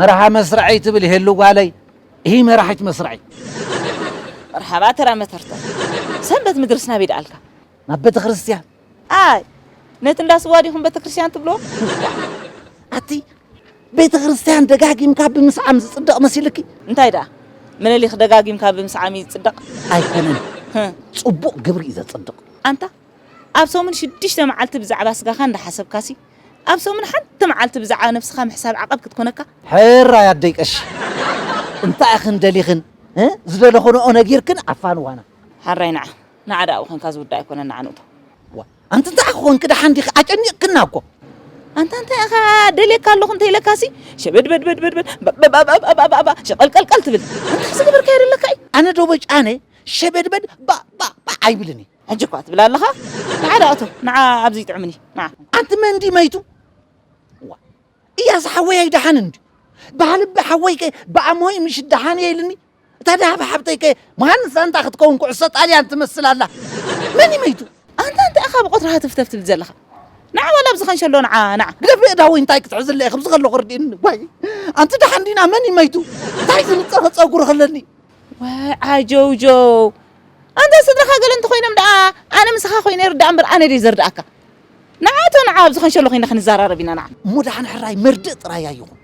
መርሃ መስርዐይ ትብል ሄሉ ጓለይ እሂ መራሒት መስርዐይ መርሓባ ተራ መተርተ ሰንበት ምድርስ ናበይ ደኣልካ ናብ ቤተ ክርስቲያን ኣይ ነቲ እንዳ ስዋ ዲኹም ቤተ ክርስቲያን ትብሎ ኣቲ ቤተ ክርስቲያን ደጋጊምካ ብምስዓም ዝጽደቕ መሲልኪ እንታይ ደኣ ምኒልክ ደጋጊምካ ብምስዓም እዩ ዝጽደቕ ኣይኮነን ህም። ጽቡቕ ግብሪ እዩ ዘጽድቕ ኣንታ ኣብ ሰሙን ሽዱሽተ መዓልቲ ብዛዕባ ስጋኻ እንዳሓሰብካሲ ኣብ ሰሙን ሓንቲ መዓልቲ ብዛዕባ ነብስኻ ምሕሳብ ዓቐብ ክትኮነካ። ሕራይ ኣደይ ቀሺ እንታይ ኢኽን ደሊኽን ዝደለኽንኦ ነጊርክን ዓፋንዋና። ሕራይ ንዓ ንዓ ደኣ ኣብኡ ኮንካ ዝውዳእ ኣይኮነን ንዓ ንእቶ። ኣንቲ እንታይ ኮንኪ ደሓን ዲኺ ኣጨኒቕክና እኮ። ኣንታ እንታይ ኢኻ ደልየካ ኣለኹ እንተኢለካሲ ሸበድበድበድበድ ባባባባባባባ ሸቐልቀልቀል ትብል ኣንታ ዝገበርካዮ ደለካ እዩ። ኣነ ዶ በጫነ ሸበድበድ ባባባ ኣይብልን እየ። ሕጂ እኳ ትብል ኣለኻ ንዓ ደኣ እቶ ንዓ ኣብዚ ይጥዕምኒ ንዓ ኣንቲ መን ድዩ መይቱ እያስ ሓወይ ኣይደሓንን እንዲ ባህልቢ ሓወይ ከ ብኣሞይ ምሽ ደሓን እየ ኢልኒ እታ ደሃብ ሓብተይ ከ መሃንስ ኣንታ ክትከውን ኩዕሶ ጣልያን ትመስል ኣላ መን እዩ መይቱ ኣንታ እንታይ ኢኻ ብቆትሪ ሃተፍተፍ ትብል ዘለኻ ንዓ ዋላ ኣብዚ ከንሸሎ ንዓ ንዓ ግደፍ ብእዳወይ እንታይ ክትሕዝለ እየ ከምዚ ከለኹ ርድእኒ ዋይ ኣንቲ ደሓን ዲና መን እዩ መይቱ እንታይ ዝንፀፈ ፀጉሪ ክለኒ ወይ ዓጀውጀው ኣንታ ስድራኻ ገለ እንተኾይኖም ደኣ ኣነ ምሳኻ ኮይነ ይርዳእ እምበር ኣነ ድየ ዘርድኣካ ንዓቶ ንዓ ኣብዚ ከንሸሎ ኮይና ክንዘራረብ ኢና ንዓ እሞ ደሓን ሕራይ መርድእ ጥራይ ኣይኹን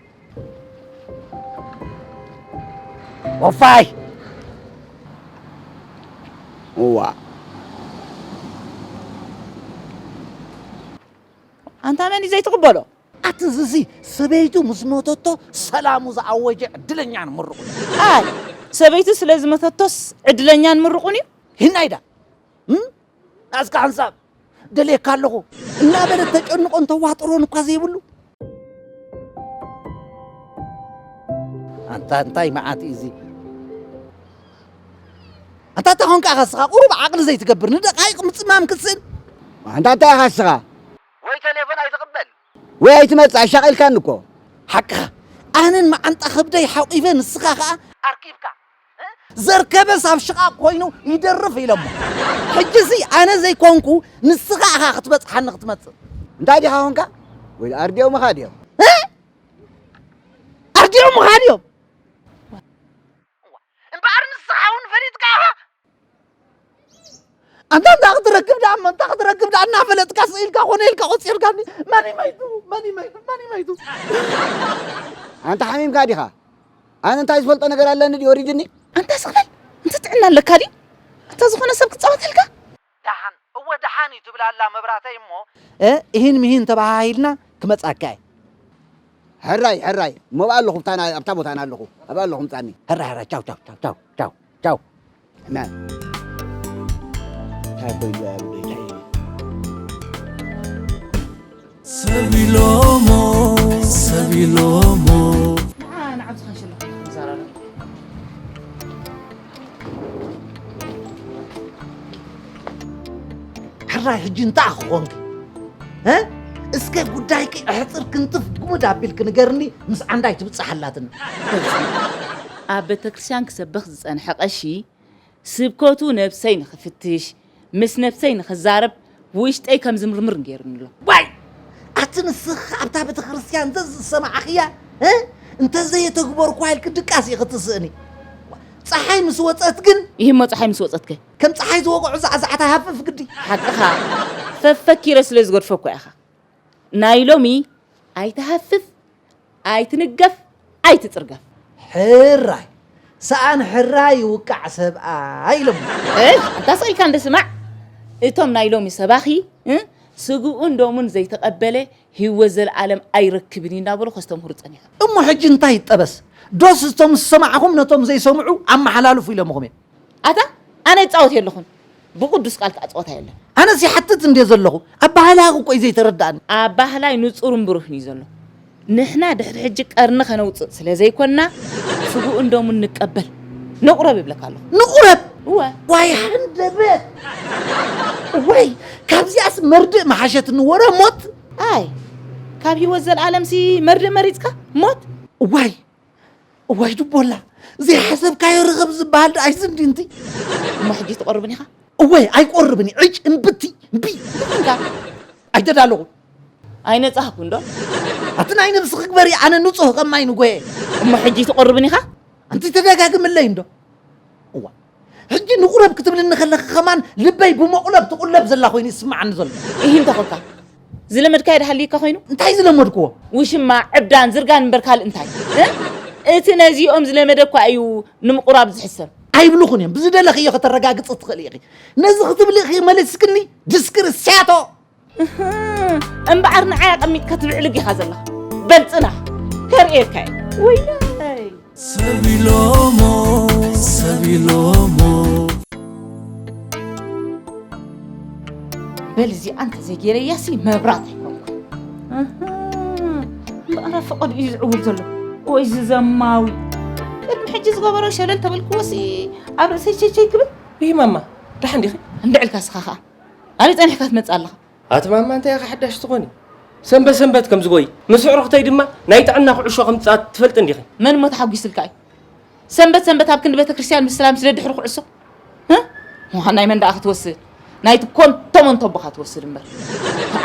ወፋይ እዋ ኣንታ መን እዩ ዘይትቕበሎ ኣቲ እዝዚ ሰበይቱ ምስ ሞተቶ ሰላሙ ዝኣወጀ ዕድለኛ ንምርቑኒ። ኣይ ሰበይቱ ስለ ዝመተቶስ ዕድለኛ ንምርቑኒ'ዩ? ሂናይዳ እም ናዝካ ሓንሳብ ደልየካ ኣለኹ እናበለት ተጨንቖን ተዋጥሮን እኳ ዘይብሉ። ኣንታ እንታይ መዓት'ዩ እዚ? ኣንታ እንታይ ኮንካ ኢኻ እስኻ ቁሩብ ዓቕሊ ዘይትገብር ንደቓይቕ ምጽማም ክትስእን? ኣንታ እንታይ ኢኻ እስኻ? ወይ ተሌፎን ኣይትቅበል። ወይ ኣይትመጽእ ኣሻቂልካኒ እኮ። ሓቅኻ ኣነን መዓንጣ ከብደይ ሓቂፈ ንስኻ ከኣ ኣርኪብካ ዘርከበስ ኣብ ሽቓቕ ኮይኑ ይደርፍ ኢለሞ ሕጂሲ ኣነ ዘይኮንኩ ንስኻ ኢኻ ክትበጽሓኒ ክትመጽእ እንታይ ዲኻ ኮንካ ወይ ኣርዲኦምኻ ድዮም ኣርዲኦምኻ ድዮም እምበኣር ንስኻ እውን ፈሊጥካ ኢኻ ኣንታ እንታ ክትረክብ ደኣ እሞ እንታ ክትረክብ ደኣ እናፈለጥካ ስኢልካ ኮነ ኢልካ ቆፂርካኒ መን ይመይቱ መን ይመይቱ መን ይመይቱ ኣንታ ሓሚምካ ዲኻ ኣነ እንታይ ዝፈልጦ ነገር ኣለኒ ድዩ ወሪድኒ ኣንታ ስቕለል እንተ ጥዕና ኣለካ ድዩ ኣንታ ዝኾነ ሰብ ክፃወተልካ ደሓን እወ ደሓን እዩ ትብል ኣላ መብራተይ እሞ። እሂን ምሂን ተበሃሂልና ክመጻካ እየ። ሕራይ ሕራይ እሞ ኣብኣ ኣለኹ ኣብታ ቦታ ኣነ ኣለኹ ኣብኣ ኣለኹ ምጻኒ። ሕራይ ሕራይ ቻው ቻው ቻው ቻው ቻው ቻው። ሕነ። እንታይ ኮይኑ'ዩ ኣያ'ለይ እንታይ እዩ። ሰብ ኢሎሞ ሰብ ኢሎሞ ሕራይ ሕጂ እንታይ ክኾንኪ እስከ ጉዳይኪ ኣሕፅር ክንጥፍ ጉሙድ ኣቢልኪ ንገርኒ ምስ ዓንዳይ ትብፅሓላትና ኣብ ቤተክርስትያን ክሰብኽ ዝፀንሐ ቀሺ ስብከቱ ነብሰይ ንኽፍትሽ፣ ምስ ነብሰይ ንኽዛረብ፣ ውሽጠይ ከም ዝምርምር ገይሩኒ ኣሎ። ዋይ ኣቲ ንስኺ ኣብታ ቤተክርስትያን ዘዝሰማዕኽያ እንተዘየተግበርኩዋ ኢልኪ ድቃስ ኢኺ ትስእኒ። ፀሓይ ምስ ወፀት ግን ይህሞ ፀሓይ ምስ ወፀት ከ ከም ፀሓይ ዝወቕዑ ዛዕዛዕታ ሃፍፍ ግዲ። ሓቅኻ ፈፈኪረ ስለ ዝገድፎ እኳ ኢኻ። ናይ ሎሚ ኣይትሃፍፍ ኣይትንገፍ ኣይትጽርገፍ። ሕራይ ሰኣን ሕራይ ይውቃዕ ሰብኣይ ኢሎሞ። እሽ ኣንታ ስቅ ኢልካ እንዶ ስማዕ እቶም ናይ ሎሚ ሰባኺ ስግኡን ደሙን ዘይተቀበለ ሂወት ዘልኣለም ኣይረክብን እዩ እንዳበሉ ከስተምህሩ ጸኒሖም። እሞ ሕጂ እንታይ ይጠበስ ዶስ እቶም ዝሰማዕኹም ነቶም ዘይሰምዑ ኣመሓላልፉ ኢሎምኹም እየ። ኣታ ኣነ ይጻወት የለኹን ብቅዱስ ቃል ከኣ ጸወታ የለን። ኣነስ ይሓትት እንድየ ዘለኹ ኣባህላያኹ እኮ እዩ ዘይተረድኣኒ። ኣባህላይ ንጹርን ብሩህን እዩ ዘሎ ንሕና ድሕሪ ሕጂ ቀርኒ ከነውጽእ ስለ ዘይኮንና ስግኡን ደሙን ንቀበል ንቁረብ ይብለካ ኣለኹ። ንቁረብ እወ። ዋይ ሃንደበት እዋይ ካብዚኣስ መርድእ ምሓሸትኒ ወረ ሞት። ኣይ ካብ ሂወት ዘልኣለምሲ መርድእ መሪጽካ ሞት። እዋይ እዋይ ድቦላ ዘይሓሰብካዮ ርኽብ ዝበሃል ደኣ ኣይዚ እንዲ እንት እሞ ሕጂ ትቆርብን ኢኻ እወይ ኣይቆርብን እዩ ዕጭ እምብቲ እምቢ ኣይተዳለኹን ኣይነጻህኩን ዶ ኣቲ ናይ ነብሲ ክግበር እዩ ኣነ ንጹህ ከማይ ንጎየ እሞ ሕጂ ትቆርብን ኢኻ ኣንቲ ተደጋግምለይ እንዶ እዋ ሕጂ ንቑረብ ክትብልኒ ከለኺ ከማን ልበይ ብመቑለብ ትቑለብ ዘላ ኮይኑ ይስምዓኒ ዘሎ። እሂ እንታይ ኮንካ? ዝለመድካዮ ዶ ሃልዩካ ኮይኑ? እንታይ ዝለመድክዎ? ውሽማ፣ ዕብዳን፣ ዝርጋን እምበር ካልእ እንታይ? እቲ ነዚኦም ዝለመደ እኳ እዩ ንምቑራብ ዝሕሰብ። ኣይብልኹን እዮም። ብዝደለኽዮ ከተረጋግጺ ትኽእሊ ኢኺ። ነዚ ክትብሊ ኢኺ መሊስክኒ? ድስክር፣ ስያቶ! እምበዓር ንዓይ ኣቐሚጥካ ትብዕልግ ኢኻ ዘለኻ በልፅና ከርእየካ እየ ወይናይ ሰቢሎሞ ሰቢሎሞ በል እዚኣ እንተዘይጌረያሲ መብራት ኣይኮንኩን እምበኣራ ፈቐዱ እዩ ዝዕውል ዘሎ ወይ ዝዘማዊ ቅድሚ ሕጂ ዝገበሮ ሸለል ተበልክዎሲ ኣብ ርእሰይ ቸቸይ ክብል ይመማ ደሓን ዲኺ እንድዕልካ ስኻ ኸኣ ኣበይ ጸኒሕካ ትመጽእ ኣለኻ? ኣቲ ማማ እንታይ ኢኺ ሓዳሽ ትኾኒ? ሰንበት ሰንበት ከም ዝጎይ ምስ ኣዕሩኽተይ ድማ ናይ ጥዕና ኩዕሾ ከም ዝጻወት ትፈልጢ እንዲኺ። መን እሞ ተሓጒስልካ እዩ? ሰንበት ሰንበት ኣብ ክንዲ ቤተ ክርስቲያን ምስላ ምስ ደድሕሪ ኩዕሶ እህ ናይ መን ደኣ ክትወስድ ናይቲ ኮንቶ መንቶ ኣቦኻ ትወስድ እምበር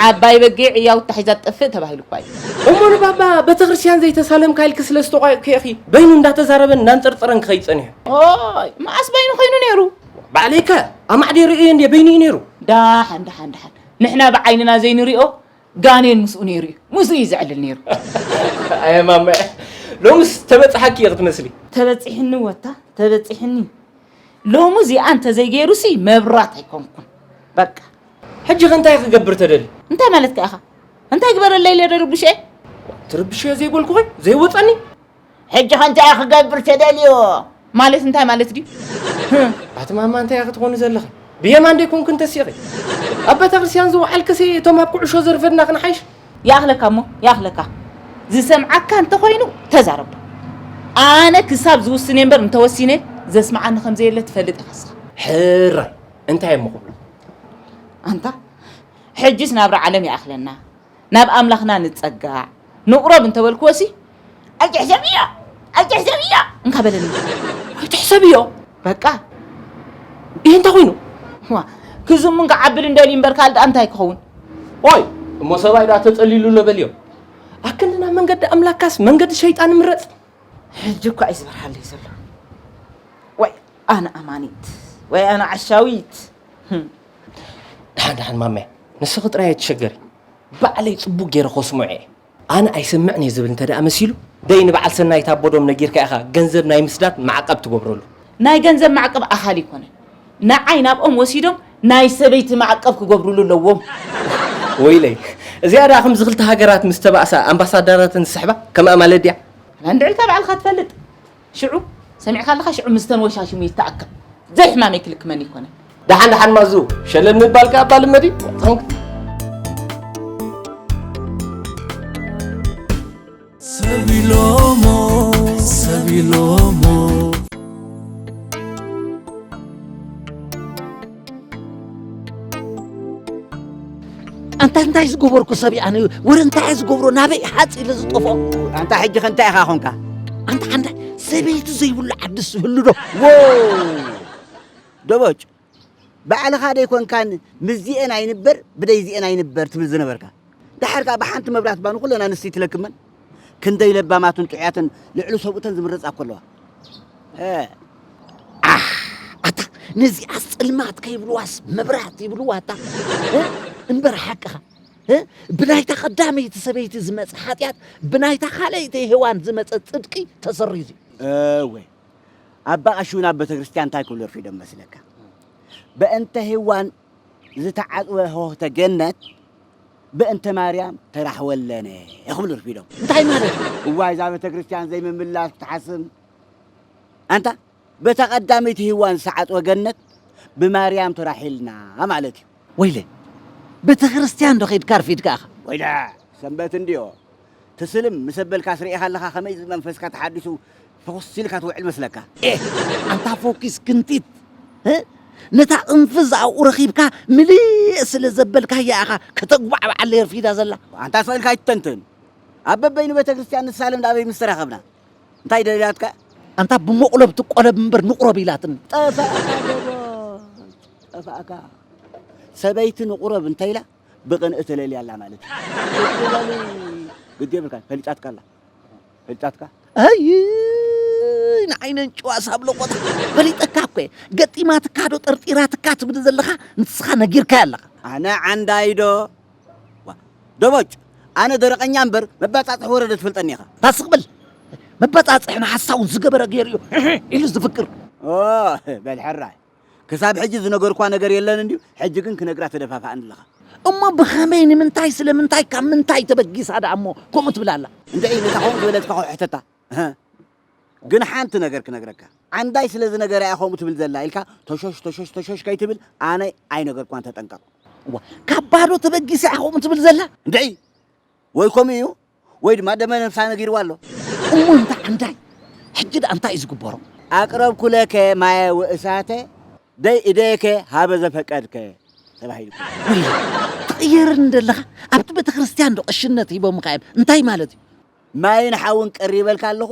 ዓባይ በጊዕ እያውታ ሒዛ ትጠፍእ ተባሂሉ እኳ እዩ እሞ ንባባ ቤተ ክርስቲያን ዘይተሳለምካ ኢልኪ ስለ ዝተቋየቕኪ ኢኺ በይኑ እንዳተዛረበን እንዳንፀርፀረን ክኸይድ ፀኒሑ ኦይ መዓስ በይኑ ኮይኑ ነይሩ ባዕለይ ከ ኣማዕዲየ ርእየዮ እንድየ በይኑ እዩ ነይሩ። ዳሓን ዳሓን ዳሓን ንሕና ብዓይንና ዘይንሪኦ ጋኔን ምስኡ ነይሩ እዩ ምስኡ እዩ ዘዕልል ነይሩ። ኣየ ማማየ ሎምስ ተበፅሓኪ እየ ክትመስሊ። ተበፂሕኒ ወታ ተበፂሕኒ ሎሚ እዚኣ እንተዘይገይሩሲ መብራት ኣይኮንኩን በቃ። ሕጂ ከ እንታይ ክገብር ተደሊ? እንታይ ማለትካ ኢኻ እንታይ ግበረለይ ኢለ ደርብሸ? ትርብሸ ዘይበልኩኸ ዘይወፀኒ ሕጂ ከ እንታይ ክገብር ተደልዮ? ማለት እንታይ ማለት ድዩ? ኣቲ ማማ እንታይ ኢኺ ትኾኒ ዘለኺ? ብየማን ደይኮንኩ እንተሲኺ ኣብ ቤተክርስትያን ዝወዓልክሲ እቶም ኣብ ኩዕሾ ዘርፈድና ክንሓይሽ ይኣኽለካ እሞ ይኣኽለካ ዝሰምዓካ እንተኾይኑ ተዛረቦ ኣነ ክሳብ ዝውስን እየ እምበር እንተወሲነ ዘስምዓኒ ከም ዘየለ ትፈልጥ ኢኻ ስኻ ሕራይ እንታይ እሞ ክብሎ ኣንታ ሕጂስ ናብራ ዓለም ይኣኽለና ናብ ኣምላኽና ንጸጋዕ ንቕረብ እንተ በልክዎሲ ኣይትሕሰብዮ ኣይትሕሰብዮ እንካ በለኒ ኣይትሕሰብዮ በቃ ይህ እንተ ኹይኑ ዋ ክዝሙን ክዓብልን ደልዩ እምበር ካልእ ደኣ እንታይ ክኸውን ኦይ እሞ ሰብኣይ ደኣ ተጸሊሉ ኣሎ በልዮ ኣክንዲ ናብ መንገዲ ኣምላካስ መንገዲ ሸይጣን ምረጽ ሕጂ እኳ እዩ ዝበርሃለይ ዘሎ ወይ ኣነ ኣማኒት ወይ ኣነ ዓሻዊት ድሓን ድሓን ማሜ ንስኺ ጥራይ ኣይትሸገሪ ባዕለይ ጽቡቅ ገይረ ከስምዖ እየ ኣነ ኣይሰምዕን እየ ዝብል እንተ ደኣ መሲሉ ደይ ንበዓል ሰናይት ኣቦዶም ነጊርካ ኢኻ ገንዘብ ናይ ምስዳድ ማዕቀብ ትገብረሉ ናይ ገንዘብ ማዕቀብ ኣኻሊ ኣይኮነን ንዓይ ናብኦም ወሲዶም ናይ ሰበይቲ ማዕቀብ ክገብሩሉ ኣለዎም ወይለይ እዚኣ ደኣ ከምዚ ክልተ ሃገራት ምስ ተባእሳ ኣምባሳደራተን ዝስሕባ ከም ኣማለድ ድያ ኣላ እንድዒልካ ባዕልካ ትፈልጥ ሽዑ ሰሚዕካ ኣለኻ ሽዑ ምስተን ወሻሽሙ ይተኣከብ ዘይ ሕማመይ ክልክመኒ ይኮነ ደሓን ደሓን ማዙ ሸለል ምባል ከ ኣባ ልመድ እዩ ኣንታ እንታይ ዝገበርኩ ሰብ ኣነ ወረ እንታይ ዝገብሮ ናበይ ሓፅ ኢለ ዝጠፍኦ ኣንታ ሕጂ ከ እንታይ ኢኻ ኾንካ ኣንታ ሓንዳ ሰበይቲ ዘይብሉ ዓድስ ይህሉ ዶ ደቦጭ ባዕልኻ ደይኮንካን ምስዚኤን ኣይንበር ብደይዚኤን ኣይንበር ትብል ዝነበርካ ደሓር ከዓ ብሓንቲ መብራት ባኑ ኩለና ንስቲ ትለክመን ክንደይ ለባማትን ጥዑያትን ልዕሊ ሰብኡተን ዝምረጻ እኮ ኣለዋ እ ነዚኣስ ጽልማት ከይብልዋስ መብራት ይብልዋ እታ እምበር ሓቅኻ ብናይታ ቀዳመይቲ ሰበይቲ ዝመፀ ሓጢኣት ብናይታ ካልኣይቲ ሄዋን ዝመፀ ፅድቂ ተሰሪዙ እወ ኣባ ቀሺ እውን ኣብ ቤተ ክርስቲያን እንታይ ክብሉ ርፊዶም መስለካ በእንተ ሄዋን ዝተዓጽወ ሆህተ ገነት በእንተ ማርያም ተራሕወለነ ክብሉ ርፊዶም። እንታይ ማለት እዩ? እዋይ እዛ ቤተክርስትያን ዘይምምላስ ክትሓስም ኣንታ በታ ቀዳመይቲ ሂዋን ዝተዓጽወ ገነት ብማርያም ተራሒልና ማለት እዩ። ወይለ ቤተክርስትያን ዶ ከይድካ ኣርፊድካ ኢኻ። ወይለ ሰንበት እንድዮ ትስልም ምስ ኣበልካስ ርኢኻ ኣለኻ ከመይ መንፈስካ ተሓዲሱ ፍኹስ ኢልካ ትውዕል መስለካ። ኤህ ኣንታ ፎኪስ ክንቲት ህ ነታ ቅንፍዝ ኣብኡ ረኺብካ ምልእ ስለ ዘበልካያ ኢኻ ከተጉባዕባዕ ለርፊዳ ዘላ። ኣንታ ስቕ ኢልካ ኣይትተንትን ኣብ በበይኑ ቤተክርስትያን ንሳለም ዳኣበይ ምስ ተራኸብና እንታይ ደልያትካ እያ። ኣንታ ብመቑለብ ትቆለብ እምበር ንቑረብ ኢላትኒ። ጠፋእካ ጀጎል ጠፋእካ ሰበይቲ ንቑረብ እንተ ኢላ ብቅንኢ ተለልያ ኣላ ማለት እዩ። ቁጭ በሊ ግዲ የብልካን ፈልጫትካ ኣላ ፈልጫትካ ኣይ ንዓይ ነንጭዋ ሳብ ለቆት ፈሊጠካ እኮ እየ ገጢማትካ ዶ ጠርጢራትካ ትብል ዘለኻ ንስኻ ነጊርካዮ ኣለኻ ኣነ ዓንዳይዶ ዋ፣ ደቦጭ ኣነ ደረቐኛ እምበር መባፃፅሒ ወረደ ትፈልጠኒ ኢኻ ታስቕ በል መበፃፅሒ ንሓሳውን ዝገበረ ገይሩ እዩ ኢሉ ዝፍክር ኦ በል ሕራይ ክሳብ ሕጂ ዝነገርኳ ነገር የለን እንድዩ፣ ሕጂ ግን ክነግራ ተደፋፋእኒ ኣለኻ። እሞ ብኸመይ፣ ንምንታይ፣ ስለምንታይ፣ ካብ ምንታይ ተበጊሳ ደኣ እሞ ከምኡ ትብል ኣላ? እንድዒ፣ ነታ ከምኡ ዝበለትካ እኮ ሕተታ። እህ፣ ግን ሓንቲ ነገር ክነግረካ፣ ዓንዳይ ስለ ዝነገራ እያ ከምኡ ትብል ዘላ ኢልካ ቶሾሽ ቶሾሽ ቶሾሽ ከይትብል፣ ኣነ ኣይነገርኳን ተጠንቀቕ። እዋ፣ ካብ ባዶ ተበጊሳ እያ ከምኡ ትብል ዘላ? እንድዒ! ወይ ከምኡ እዩ ወይ ድማ ደመ ነፍሳ ነጊርዋ ኣሎ። እሞ እንታ ዓንዳይ ሕጂ ደኣ እንታይ እዩ ዝግበሮ? ኣቅረብኩ ለከ ማየ ወእሳተ ደይ እደይከ ሃበ ዘፈቀድከ ተባሂሉ። ወዮ ትቕየረኒ እንደለኻ ኣብቲ ቤተክርስትያን ዶ ቐሽነት ሂቦምኻ እዮም እንታይ ማለት እዩ? ማይን ሓውን ቀሪበልካ ኣለኹ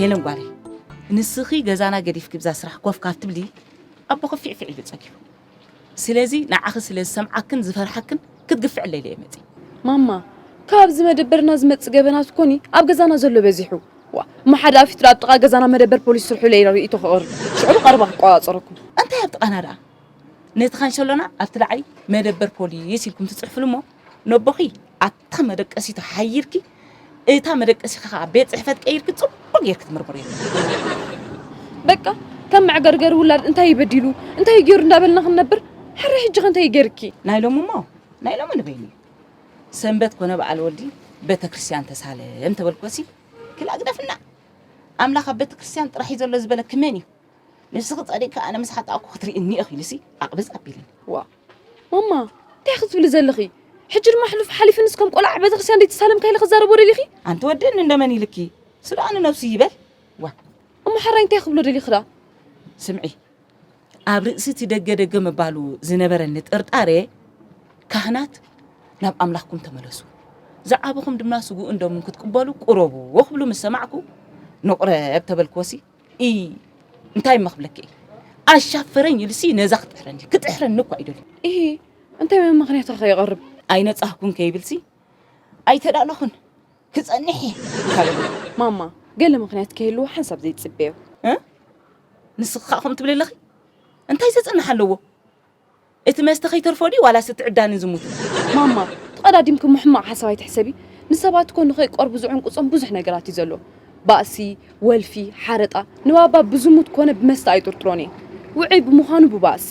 ሄለን ጓለይ ንስኺ ገዛና ገዲፍኪ ብዛ ስራሕ ኮፍ ካብ ትብሊ ኣቦኺ ፊዕፊዕ ኢሉ ጸጊቡ ስለዚ ንዓኺ ስለ ዝሰምዓክን ዝፈርሓክን ክትግፍዕለይ ኢለ መጺ ማማ ካብዚ መደበርና ዝመጽእ ገበናት ኮኒ ኣብ ገዛና ዘሎ በዚሑ ዋ እሞ ሓደ ኣፊት ኣብ ጥቓ ገዛና መደበር ፖሊስ ስርሑ ኢለ ርእይቶ ክቕርብ ሽዑ ብቐረባ ክቆጻጸረኩም እንታይ ኣብ ጥቓና ደኣ ነቲ ካንሸሎና ኣብቲ ላዕሊ መደበር ፖሊስ ኢልኩም ትጽሕፍሉ እሞ ነቦኺ ኣብታ መደቀሲቱ ሓይርኪ እታ መደቀሲኺ ከዓ ቤት ጽሕፈት ቀይርኪ ጽቡቅ ጌርኪ ትምርምርዮ በቃ ከም መዕገርገሪ ውላድ እንታይ ይበዲሉ እንታይ ይገይሩ እንዳበልና ክንነብር ሕረ ሕጂ ከ እንታይ ይገርኪ ናይ ሎሚ እሞ ናይ ሎሚ ንበይኑ ሰንበት ኮነ በዓል ወዲ ቤተ ክርስቲያን ተሳለም ተበልኮሲ ክላግደፍና ኣምላኽ ኣብ ቤተ ክርስቲያን ጥራሕ እዩ ዘሎ ዝበለኪ መን እዩ ንስኺ ጸሪግኪ ኣነ ምስ ሓጣእኩ ክትርእይኒ ኢኺ ኢሉሲ ዓቕበዝ ኣቢልኒ። ዋእ ማማ እንታይ ክትብሊ ዘለኺ? ሕጂ ድማ ሕሉፍ ሓሊፍንስ ከም ቆልዓ ኣብ ቤተክርስትያን ዘይተሳለምካ ኢለ ክዛረቦ ደሊኺ? ኣንቲ ወዲ እኒ እንደ መን ኢልኪ ስድኣ ንነብሱ ይበል ዋ እሞ ሓራይ እንታይ ክብሎ ደሊኺ ደኣ? ስምዒ ኣብ ርእሲ እቲ ደገ ደገ ምባሉ ዝነበረኒ ጥርጣረ ካህናት ናብ ኣምላኽኩም ተመለሱ ዝዓበኹም ድማ ስግኡን ደሙን ክትቅበሉ ቁረቡ ክብሉ ምስ ሰማዕኩ ንቑረብ ተበልክዎሲ እይ እንታይ እሞ ክብለኪ እየ ኣሻፈረኝ ኢሉሲ ነዛ ክጥሕረኒ ክጥሕረኒ እኳ ይደሉ እይ እንታይ ምክንያት ከይቐርብ ኣይነጻህኩን ከይብልሲ ኣይተዳለኹን ክጸንሕ እየ ማማ ገለ ምክንያት ከይህልዎ ሓንሳብ ዘይትጽበዮ ንስኻ ከምኡ ትብሊ ኣለኺ እንታይ ዘጽንሕ ኣለዎ እቲ መስተ ከይተርፎ ድዩ ዋላስ እቲ ዕብዳንን ዝሙትን? ማማ ተቐዳዲምኪ እሞ ሕማቕ ሓሳብ ኣይትሕሰቢ፣ ንሰባት እኮ ንኸይቀርቡ ዝዕንቁጾም ብዙሕ ነገራት እዩ ዘሎ፣ ባእሲ፣ ወልፊ፣ ሓረጣ፣ ንባባ ብዝሙት ኮነ ብመስተ ኣይጥርጥሮን እየ፣ ውዑይ ብምዃኑ ብባእሲ፣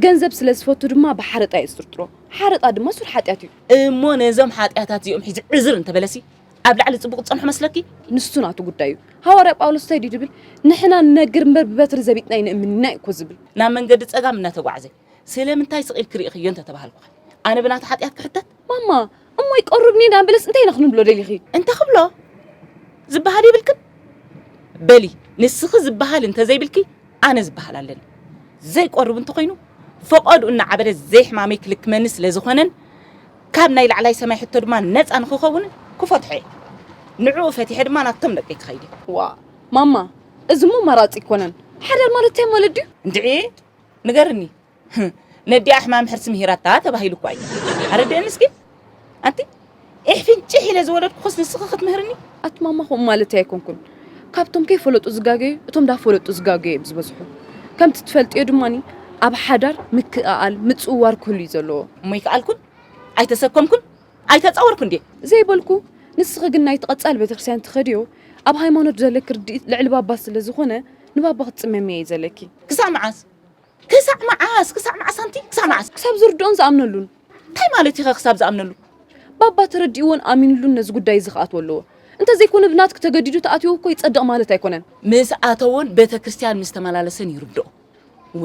ገንዘብ ስለ ዝፈቱ ድማ ብሓረጣ እየ ዝጥርጥሮ፣ ሓረጣ ድማ ሱር ሓጢኣት እዩ። እሞ ነዞም ሓጢኣታት እዚኦም ሒዙ ዕዝር እንተበለሲ? ኣብ ላዕሊ ጽቡቕ ትጸንሖ መስለኪ ንሱ ናቱ ጉዳይ እዩ ሃዋርያ ጳውሎስ እንታይ ድዩ ዝብል ንሕና ንነግር እምበር ብበትሪ ዘቢጥና ኣይንእምን ኢና እዩ እኮ ዝብል ናብ መንገዲ ጸጋም እናተጓዕዘ ስለምንታይ ስቕ ኢልኪ ርኢኽዮ እንተ ተባሃልኩ ኣነ ብናቱ ሓጢኣት ክሕተት ማማ እሞ ይቀርብኒ ኢና በለስ እንታይ ኢና ክንብሎ ደሊኺ እንተ ክብሎ ዝበሃል የብልክን በሊ ንስኺ ዝበሃል እንተ ዘይብልኪ ኣነ ዝበሃል ኣለኒ ዘይቆርብ እንተኾይኑ ፈቐድኡ እናዓበደ ዘይሕማመይ ክልክመኒ ስለ ዝኾነን ካብ ናይ ላዕላይ ሰማይ ሕቶ ድማ ነጻ ንክኸውን ክፈትሖ እየ። ንዕኡ ፈቲሐ ድማ ናብቶም ደቀይ ክኸይድ እየ። ዋእ ማማ እዚ እሞ ኣማራጺ ኣይኮነን። ሓዳር ማለት እንታይ ማለት ድዩ? እንድዒ ንገርኒ ነዲኣ ሕማም ሕርሲ ምሂራታ ተባሂሉ እኳ እዩ። ኣረድእኒ እስኪ ኣንቲ ኢሕፊን ጭሕ ኢለ ዝወለድኩኽስ ንስኺ ክትምህርኒ? ኣቲ ማማ ከምኡ ማለተይ ኣይኮንኩን ካብቶም ከይፈለጡ ዝጋገዩ እቶም ዳፈለጡ ዝጋገዩ እዮም ዝበዝሑ ከምቲ ትፈልጥዮ ድማኒ ኣብ ሓዳር ምክእኣል ምፅውዋር ክህሉ እዩ ዘለዎ እሞ ይከኣልኩን ኣይተሰከምኩን ኣይተፃወርኩን ድየ ዘይበልኩ ንስኺ ግን ናይቲ ቀፃሊ ቤተክርስትያን ትኸድዮ ኣብ ሃይማኖት ዘለኪ ርድኢት ልዕሊ ባባ ስለ ዝኾነ ንባባ ክትፅመምዮ እዩ ዘለኪ ክሳብ መዓስ ክሳዕ መዓስ ክሳዕ መዓስ ኣንቲ ክሳዕ መዓስ ክሳብ ዝርድኦን ዝኣምነሉን እንታይ ማለት እዩ ክሳብ ዝኣምነሉ ባባ ተረዲእዎን ኣሚንሉን ነዚ ጉዳይ እዚ ክኣትዎ ኣለዎ እንተዘይኮነ ብናትኪ ተገዲዱ ተኣትዮ እኮ ይጸድቕ ማለት ኣይኮነን ምስ ኣተዎን ቤተክርስትያን ምስ ተመላለሰን ይርድኦ እወ።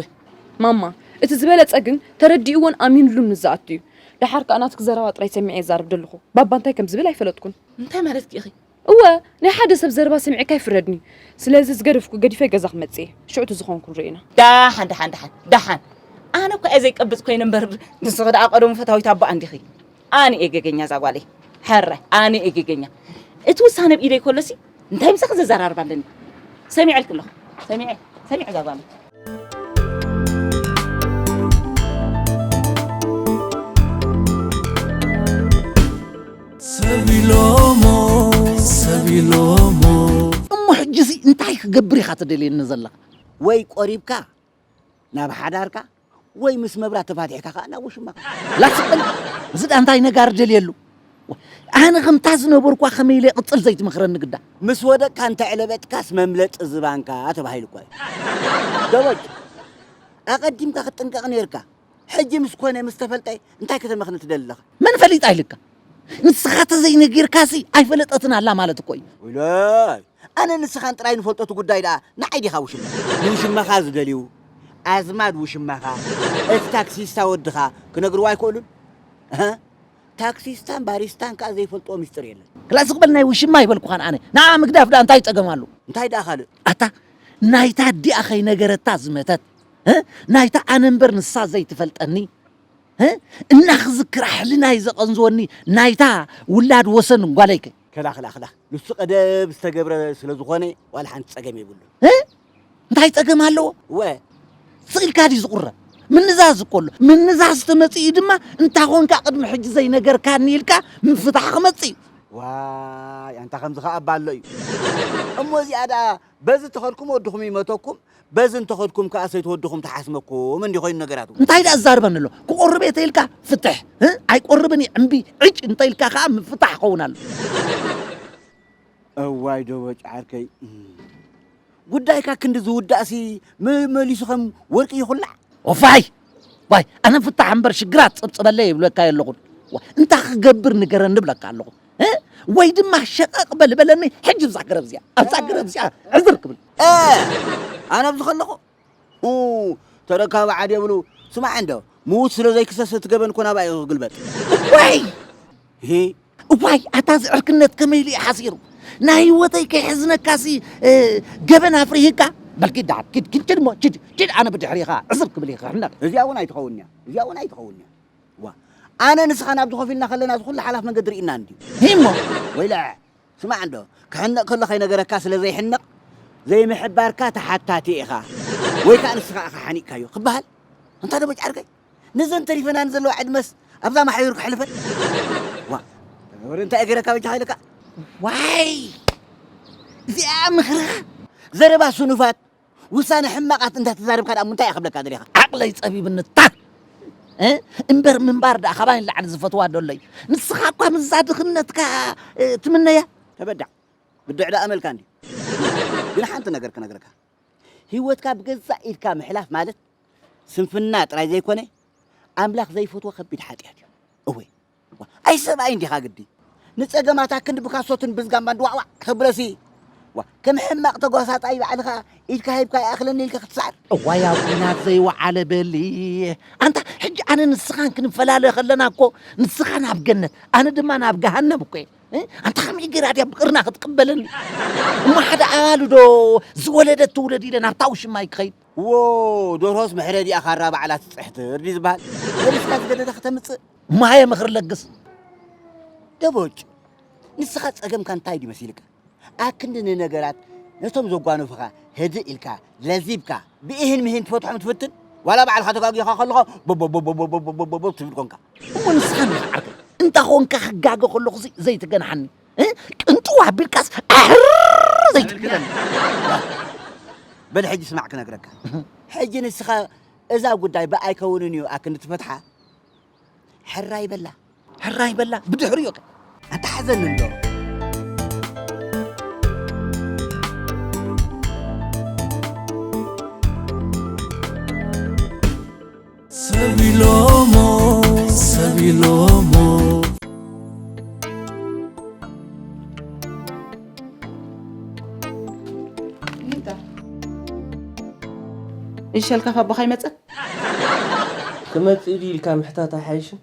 ማማ እቲ ዝበለጸ ግን ተረዲእዎን ኣሚንሉን ምስ ዝኣቱ እዩ ደሓር ከኣ ናትኪ ዘረባ ጥራይ ሰሚዐ እየ ዝዛረብ ደለኹ ባባ እንታይ ከም ዝብል ኣይፈለጥኩን። እንታይ ማለትኪ ኢኺ እወ ናይ ሓደ ሰብ ዘረባ ሰሚዕካ ኣይፍረድን እዩ ስለዚ ዝገደፍኩ ገዲፈ ገዛ ክመጽእ እየ ሽዑ እቲ ዝኾንኩ ንርኢ ኢና ዳሓን ዳሓን ዳሓን ዳሓን ኣነ እኳ እየ ዘይቀብጽ ኮይነ እምበር ንስኺ ደኣ ቀደሙ ፈታዊት ኣቦኣ እንዲኺ ኣነ እየ ገገኛ እዛ ጓለይ ሕረ ኣነ እየ ገገኛ እቲ ውሳነ ኣብ ኢደይ ከሎሲ እንታይ ምሳኺ ዘዘራርብ ኣለኒ ሰሚዐልኪ ኣለኹ ሰሚዐ ሰሚዐ እዛ ጓለይ እሞ ሕጂሲ እንታይ ክገብር ኢኻ ትደልየኒ ዘለኻ ወይ ቆሪብካ ናብ ሓዳርካ ወይ ምስ መብራት ተፋቲሕካ ከዓ ናብ ውሽማኻ ላትስበል እዚ ዳ እንታይ ነጋር ደልየሉ ኣነ ከምታ ዝነበርኳ ከመይ ኢለ ቅጽል ዘይትመኽረኒ ግዳ። ምስ ወደቅካ እንተ ዕለበጥካስ መምለጢ ዝባንካ ተባሂሉ እኳ እዩ። ደበጅ ኣቐዲምካ ክትጥንቀቕ ኔርካ። ሕጂ ምስ ኮነ ምስ ተፈልጠ እንታይ ከተመኽኒ ትደሊ ኣለኻ? መን ፈሊጣ ኢልካ? ንስኻ ተዘይነጊርካሲ ኣይፈለጠትን ኣላ ማለት እኮ እዩ። ውላይ ኣነ ንስኻን ጥራይ ንፈልጦ እቲ ጉዳይ ደኣ ንዓይ ዲኻ ውሽማ ንውሽማኻ ዝደልዩ ኣዝማድ ውሽማኻ እቲ ታክሲስታ ወድኻ ክነግርዎ ኣይክእሉን? እህ ታክሲስታን ባሪስታን ከኣ ዘይፈልጥዎ ምስጢር የለን። ክላእ ስቕ በል ናይ ውሽማ ኣይበልኩኻን ኣነ። ንዓኣ ምግዳፍ ድኣ እንታይ ጸገም ኣሎ? እንታይ ድኣ ካልእ? ኣታ ናይታ ኣዲኣ ከይነገረታ ዝመተት ህ ናይታ ኣነ እምበር ንሳ ዘይትፈልጠኒ ህ እናክዝክራ ሕልናይ ዘቐንዝወኒ ናይታ ውላድ ወሰን ጓለይ ከ ክላ ክላ ክላ ንሱ ቀደም ዝተገብረ ስለ ዝኾነ ዋላ ሓንቲ ጸገም የብሉን። እንታይ ጸገም ኣለዎ? ወ ስኢልካ ድዩ ዝቑረብ? ምንዛዝ እኮ ኣሎ። ምንዛዝ ተመጺኡ ድማ እንታ ኾንካ ቅድሚ ሕጂ ዘይነገርካኒ ኢልካ ምፍታሕ ክመጽእ እዩ። ዋይ ኣንታ ከምዚ ከኣ እባ ኣሎ እዩ እሞ እዚኣ ደኣ በዚ ተኸድኩም ወድኹም ይመተኩም በዚ እንተኸድኩም ከኣ ሰይቲ ወድኹም ትሓስመኩም እንዲ ኮይኑ ነገራቱ እንታይ ደኣ ዝዛርበኒ ኣሎ? ክቆርብ እየ ተኢልካ ፍትሕ እ? ኣይቆርብን እየ እምቢ ዕጭ እንተኢልካ ከኣ ምፍታሕ ይኸውን ኣሎ። እዋይ ደበጭ ዓርከይ ጉዳይካ ክንዲ ዝውዳእሲ መመሊሱ ከም ወርቂ ይኹላዕ ወፋይ ዋይ ኣነ ፍታሕ እምበር ሽግራት ጽብጽበለ ይብለካ የለኹን እንታይ ክገብር ንገረኒ ብለካ ኣለኹ ወይ ድማ ሸቀቅ በልበለኒ ሕጂ ብዛ ገረብ እዚኣ ኣብዛ ገረብ እዚኣ ዕዝር ክብል ኣነ ኣብዚ ከለኹ ኡይ ተረካቢ ዓድ የብሉ ስማዕ እንዶ ምዉት ስለ ዘይክሰስ እቲ ገበን እኮ ናባይ እዩ ክግልበጥ እዋይ እሂ እዋይ ኣታ እዚ ዕርክነት ከመይ ኢሉ እዩ ሓሲሩ ናይ ህይወተይ ከይሕዝነካሲ እ፣ ገበን ኣፍሪህካ በል ኪድ ደሓር ኪድ ኪድ ኪድ እሞ ኪድ ኪድ ኣነ ብድሕሪ ኢኻ ዕስብ ክብል እየ ክሕነቕ እዚኣ እውን ኣይትኸውን እያ እዚኣ እውን ኣይትኸውን እያ ዋ ኣነ ንስኻ ናብዚ ኮፍ ኢልና ከለና እዚ ኩሉ ሓላፍ መገዲ ርኢና እንድዩ ሂሞ ወይለ ስማዕ እንዶ ክሕነቕ ከሎ ከይነገረካ ስለ ዘይሕነቕ ዘይምሕባርካ ተሓታቲ ኢኻ ወይ ከኣ ንስኻ ኢኻ ሓኒቕካዮ ክበሃል ኣንታ ደቦጭ ዓርከይ ነዘን ተሪፈናኒ ዘለዋ ዕድመስ ኣብዛ ማሕዩር ከሕልፈን ዋ ወረ እንታይ እየ ገይረካ በጃኻ ኢለካ ዋይ እዚኣ ምኽርኻ ዘረባ ስኑፋት ውሳነ ሕማቃት እንዳተዛረብካ ደኣ ምንታይ ክብለካ ደሊኻ ዓቅለይ ጸቢብንታት እምበር ምንባር ደኣ ካባይ ንላዕሊ ዝፈትዋ ደሎይ ንስኻ እኳ ምዛ ድኽነትካ ትምነያ ተበዳዕ ብድዕ ደኣ መልካ እንዲ ግን ሓንቲ ነገር ክነግረካ ህይወትካ ብገዛእ ኢድካ ምሕላፍ ማለት ስንፍና ጥራይ ዘይኮነ ኣምላኽ ዘይፈትዎ ከቢድ ሓጢኣት እዩ እወ ኣይ ሰብኣይ እንዲኻ ግዲ ንጸገማታ ክንዲ ብካሶትን ብዝጋምባን ዋዕዋዕ ክብለሲ ዋ ከም ሕማቕ ተጓሳጣይ ባዕልኻ ኢድካ ሂብካ ይኣኽለኒ ኢልካ ክትስዓር እዋይ ኣብ ኲናት ዘይወዓለ በሊ ኣንታ ሕጂ ኣነ ንስኻን ክንፈላለ ከለና እኮ ንስኻ ናብ ገነት ኣነ ድማ ናብ ገሃነም እኮ እየ ኣንታ ከመይ ገይራ ድያ ብቅርና ክትቅበለኒ እሞ ሓደ ኣባሉ ዶ ዝወለደት ትውለድ ኢለ ናብታ ውሽማይ ክኸይድ እዎ ዶርሆስ መሕረዲኣ ካራ ባዕላ ትጽሕትር ድዩ ዝበሃል? ሰሪሕካ ዝገደደ ከተምጽእ። ማየ ምኽሪ ለግስ። ደቦጭ ንስኻ ጸገምካ እንታይ ድዩ መሲልካ? ኣክንዲ ንነገራት ነቶም ዘጓንፉኻ ህድእ ኢልካ ለዚብካ ብኢሂን ምሂን ትፈትሖም ትፍትን ዋላ ባዕልኻ ተጋጊኻ ከለኻ ቦቦቦቦቦቦቦቦቦ ትብል ኮንካ። እሞ ንስኻ እንድኻ ዓርከይ እንታ ኾንካ ክጋገ ከለኹሲ ዘይትገንሓኒ። እ? ቅንጥው ኣቢልካስ ኣሕርር ዘይትብል ክለኒ በል ሕጂ ስማዕ ክነግረካ ሕጂ ንስኻ እዛ ጉዳይ ብኣይ ከውንን እዩ ኣክንዲ ትፈትሓ ሕራይ በላ ሕራይ በላ ብድሕሪ እዩ ኣንታ ሓዘኒ እንዶ ይሸልካ ካባኻ ይመፅእ ክመፅእ ድዩ ኢልካ ምሕታት ኣይሓይሽን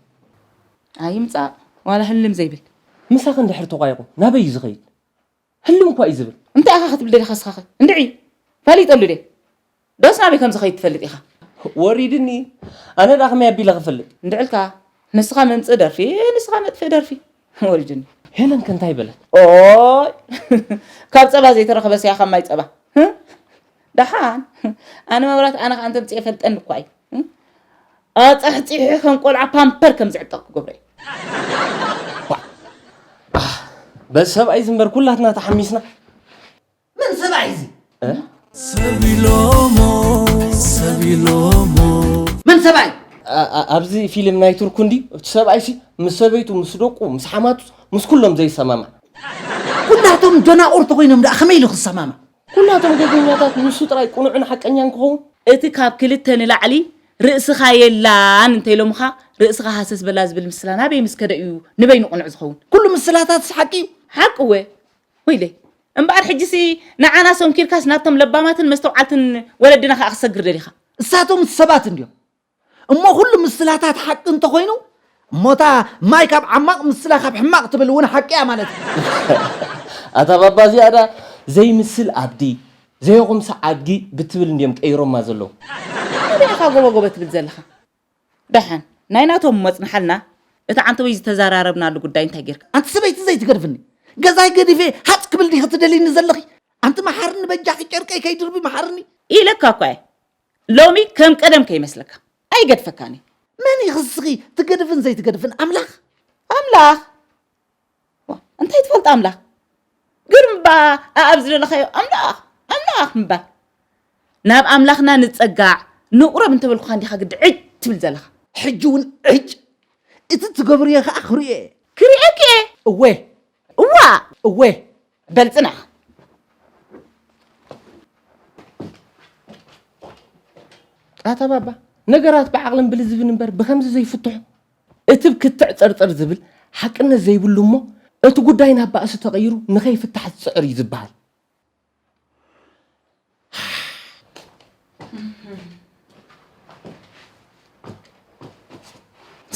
ኣይምፃእ ዋላ ህልም ዘይብል ምሳኽ እንድሕር ተቋይቑ ናበይ እዩ ዝኸይድ ህልው እንኳ እዩ ዝብል እንታይ ኢኻ ክትብል ደሊኻ እስኻኸ እንድዒ ፈሊጠሉ ድየ ዶስ ናበይ ከም ዝኸይድ ትፈልጥ ኢኻ ወሪድኒ ኣነ ድኣ ከመይ ኣቢለ ክፈልጥ እንድዕልካ ንስኻ መምጽእ ደርፊ ንስኻ መጥፍእ ደርፊ ወሪድኒ ሄለን ከንታይ በለት ኦይ ካብ ጸባ ዘይተረኸበ ስያ ካብ ማይ ጸባ ደሓን ኣነ መብራት ኣነ ከ ኣንተምጽእ የፈልጠኒ እኳ እዩ ኣጻሕጺሒ ከም ቆልዓ ፓምፐር ከም ዝዕጠቕ ክገብሮ እዩ። በዚ ሰብኣይ ዝንበር ኩላትና ተሓሚስና። መን ሰብኣይ እዚ? መን ሰብኣይ? ኣብዚ ፊልም ናይ ቱርኩ እንዲ እቲ ሰብኣይ ሲ ምስ ሰበይቱ ምስ ደቁ ምስ ሓማቱ ምስ ኩሎም ዘይሰማማዕ ኩላቶም ደናቑር ተኾይኖም ደኣ ከመይ ኢሉ ክሰማማዕ? ኩላቶም ገዜኛታት ንሱ ጥራይ ቅኑዕን ሓቀኛን ክኸውን። እቲ ካብ ክልተ ንላዕሊ ርእስኻ የላን እንተኢሎምኻ ርእስኻ ሃሰስ በላ ዝብል ምስላ ናበይ ምስ ከደ እዩ ንበይኑ ቅኑዕ ዝኸውን? ኩሉ ምስላታትስ ሓቂ እዩ? ሓቂ እወ። ወይለይ! እምበኣር ሕጂሲ ንዓና ሰንኪርካስ ናብቶም ለባማትን መስተውዓልትን ወለድና ከኣ ክትሰግር ደሊኻ? እሳቶም ሰባት እንድዮም። እሞ ኩሉ ምስላታት ሓቂ እንተኾይኑ እሞ እታ ማይ ካብ ዓማቕ ምስላ ካብ ሕማቕ ትብል እውን ሓቂ እያ ማለት እዩ። ኣታ ባባ እዚኣ ድኣ ዘይምስል ኣብዲ ዘየኹምሳ ኣድጊ ብትብል እንድዮም ቀይሮማ ዘለዉ። እንታይ ድያ እታ ጎበጎበ ትብል ዘለኻ? ደሓን ናይ ናቶም እሞ ኣጽንሓልና እቲ ዓንተወይ ዝተዘራረብናሉ ጉዳይ እንታይ ጌርካ? ኣንቲ ሰበይቲ ዘይትገድፍኒ ገዛይ ገዲፈ ሃጽ ክብል ዲኺ ትደልይኒ ዘለኺ? ኣንቲ መሓርኒ በጃኺ ጨርቀይ ከይድርቢ መሓርኒ። ኢለካ እኳ እየ ሎሚ ከም ቀደም ከይመስለካ ኣይገድፈካን እዩ። መን ኢኺ እስኺ ትገድፍን ዘይትገድፍን ኣምላኽ? ኣምላኽ ዋ እንታይ ትፈልጥ ኣምላኽ ግርም እባ ኣኣብ ዝደለኻዮ ኣምላኽ ኣምላኽ ምባል ናብ ኣምላኽና ንጸጋዕ ንቑረብ እንተበልኩኻ እንዲኻ ግዲ ዕጭ ትብል ዘለኻ ሕጂ እውን ዕጭ እቲ ትገብርዮ ከዓ ክሪኦ እየ ክሪኤኪ እየ እወ እዋ እወ በል ፅናሕ ኣታ ባባ ነገራት ብዓቕልን ብልዝብን እምበር ብከምዚ ዘይፍትሑ እቲ ክትዕ ፅርፅር ዝብል ሓቅነት ዘይብሉ እሞ እቲ ጉዳይ ናብ ባእሲ ተቐይሩ ንኸይፍታሕ ዝፅዕር እዩ ዝበሃል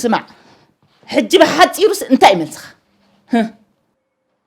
ስማዕ ሕጂ ብሓፂሩስ እንታይ መልስኻ